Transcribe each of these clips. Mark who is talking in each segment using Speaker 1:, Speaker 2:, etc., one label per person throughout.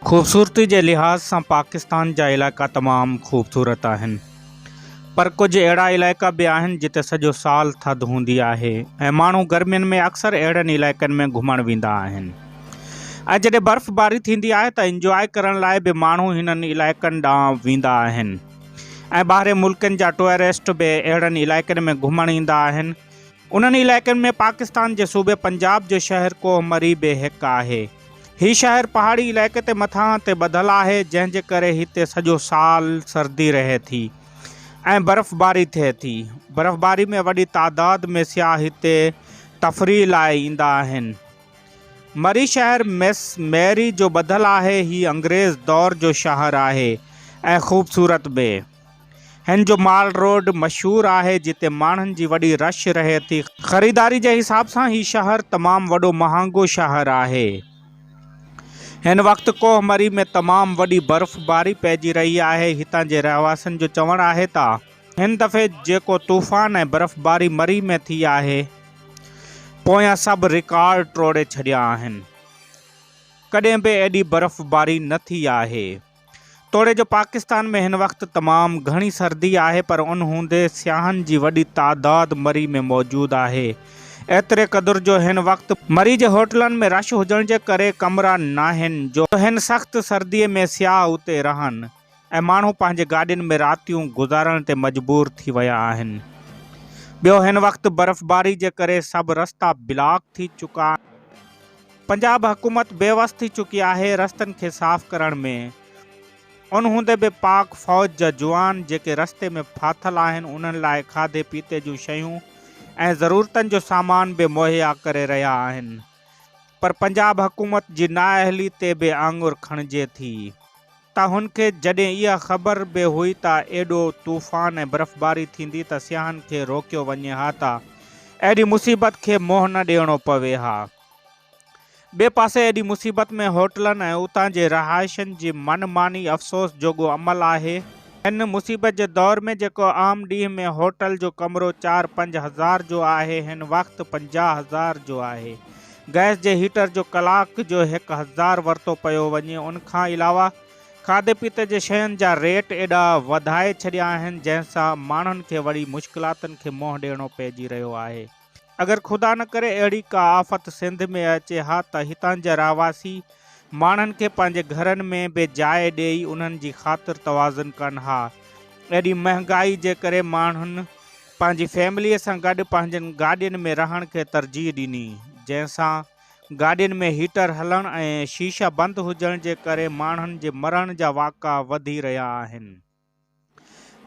Speaker 1: خوبصورتي جي لحاظ سان پاڪستان جا علائقا تمام خوبصورت آهن پر ڪجهه اهڙا علائقا به آهن جتي سڄو سال ٿڌ هوندي آهي ۽ ماڻهو گرمين ۾ اڪثر اهڙن علائقن ۾ گهمڻ ويندا آهن ۽ جڏهن برف باري ٿيندي آهي ته انجواء ڪرڻ لاء به ماڻهو هنن علائقن ڏانهن ويندا آهن ۽ ٻاهرين ملڪن جا ٽوئرسٽ به اهڙن علائقن ۾ گهمڻ ايندا آهن انهن علائقن ۾ پاڪستان جي صوبي پنجاب جو شهر ڪوه مري به هڪ آهي. هي شهر پهاڙي علائقي تي مٿان تي ٻڌل آهي، جنهن جي ڪري هتي سڄو سال سردي رهي ٿي ۽ برفباري ٿئي ٿي. برفباري ۾ وڏي تعداد ۾ سياح هتي تفريح لاء ايندا آهن. مري شهر مس ميري جو ٻڌل آهي. هي انگريز دور جو شهر آهي ۽ خوبصورت به. هن جو مال روڊ مشهور آهي جتي ماڻهن جي وڏي رش رهي ٿي. خريداري جي حساب سان هي شهر تمام وڏو مهانگو شهر آهي. هن وقت ڪوه مري ۾ تمام وڏي برف باري پئجي رهي آهي. هتان جي رهواسين جو چوڻ آهي ته هن دفعي جيڪو طوفان ۽ برف باري مري ۾ ٿي آهي پويان سڀ رڪارڊ ٽوڙي ڇڏيا آهن. ڪڏهن به ايڏي برف باري نه ٿي آهي. توڙي جو پاڪستان ۾ هن وقت تمام گهڻي سردي آهي پر ان هوندي سياحن جي وڏي تعداد مري ۾ موجود آهي ايتري قدر جو هن وقت مري جي هوٽلن ۾ رش هجڻ جي ڪري ڪمرا ناهن جو هن سخت سردي ۾ سياح اتي رهن ۽ ماڻهو پنهنجي گاڏين ۾ راتيون گذارڻ تي مجبور ٿي ويا آهن ٻيو هن وقت برفباري جي ڪري سڀ رستا بلاڪ ٿي چڪا پنجاب حڪومت بيوس ٿي چڪي آهي رستن کي صاف ڪرڻ ۾، ان هوندي به پاڪ فوج جا جوان جيڪي رستي ۾ ڦاٿل آهن انهن لاء کاڌي پيتي جون شيون ۽ ضرورتن جو سامان به مهيا ڪري رهيا آهن پر پنجاب حڪومت جي نااهلي تي به آڱر کڻجي ٿي ته هن کي جڏهن اها خبر به هئي ته ايڏو طوفان ۽ برفباري ٿيندي ته سياحن کي روڪيو وڃي ها ته اهڙي مصيبت کي منهن نه ڏيڻو پوي ها. ٻئي پاسي ايڏي مصيبت ۾ هوٽلن ۽ اتان جي رهائشين جي من ماني افسوس جوڳو عمل آهي. هن مصيبت جي دور ۾ جيڪو عام ڏينهن ۾ هوٽل جو ڪمرو چار پنج هزار جو آهي هن وقت پنجاهه هزار جو آهي. گئس جي هيٽر جو ڪلاڪ جو هڪ هزار ورتو پيو وڃي ان کان علاوه کاڌي پيتي جي شين جا ريٽ ايڏا وڌائي ڇڏيا آهن جنهن سان ماڻهن کي وڏي مشڪلاتن کي منهن ڏيڻو پئجي رهيو آهي. اگر خدا نه ڪري اهڙي ڪا آفت سنڌ ۾ اچي ها ته هتان جا رهواسي ماڻهن کي پنهنجي گهرن ۾ به جاء ڏيئي انهن جي خاطر توازن ڪن ها. ايڏي مهنگائي جي ڪري ماڻهن پنهنجي فيمليء سان گڏ پنهنجين گاڏين ۾ رهڻ کي ترجيح ڏني، جنهن سان گاڏين ۾ هيٽر هلڻ ۽ شيشه بند هجڻ جي ڪري ماڻهن جي مرڻ جا واقعا وڌي رهيا آهن.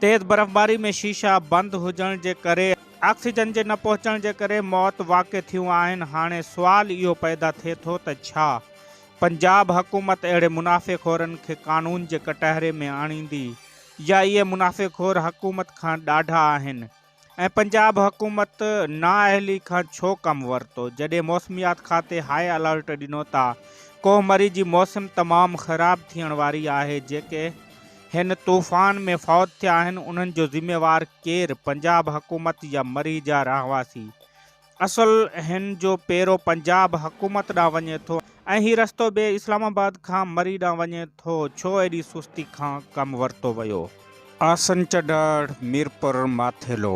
Speaker 1: تيز برفباري ۾ شيشا بند هجڻ جي ڪري آڪسيجن جي نه پهچڻ جي ڪري موت واقع ٿيون آهن، هاڻي سوال اهو پيدا ٿئي ٿو ته ڇا پنجاب حڪومت اهڙي منافعي خورن کي قانون جي ڪٽهري ۾ آڻيندي يا اهي منافعي خور حڪومت کان ڏاڍا آهن ۽ پنجاب حڪومت نااهلي کان ڇو ڪم ورتو جڏهن موسميات کاتي هاء الرٽ ڏنو ته ڪوهه مري جي موسم تمام خراب ٿيڻ واري آهي جيڪي هن طوفان ۾ فوت ٿيا آهن انهن جو ذميوار ڪير پنجاب حڪومت يا مري جا رهواسي اصل هن جو پيرو پنجاب حڪومت ڏانهن وڃي ٿو ۽ هي رستو به اسلام آباد کان مري ڏانهن وڃي ٿو، ڇو ايڏي سستي کان ڪم ورتو ويو؟ آسن چڍاڙ، ميرپور ماٿيلو.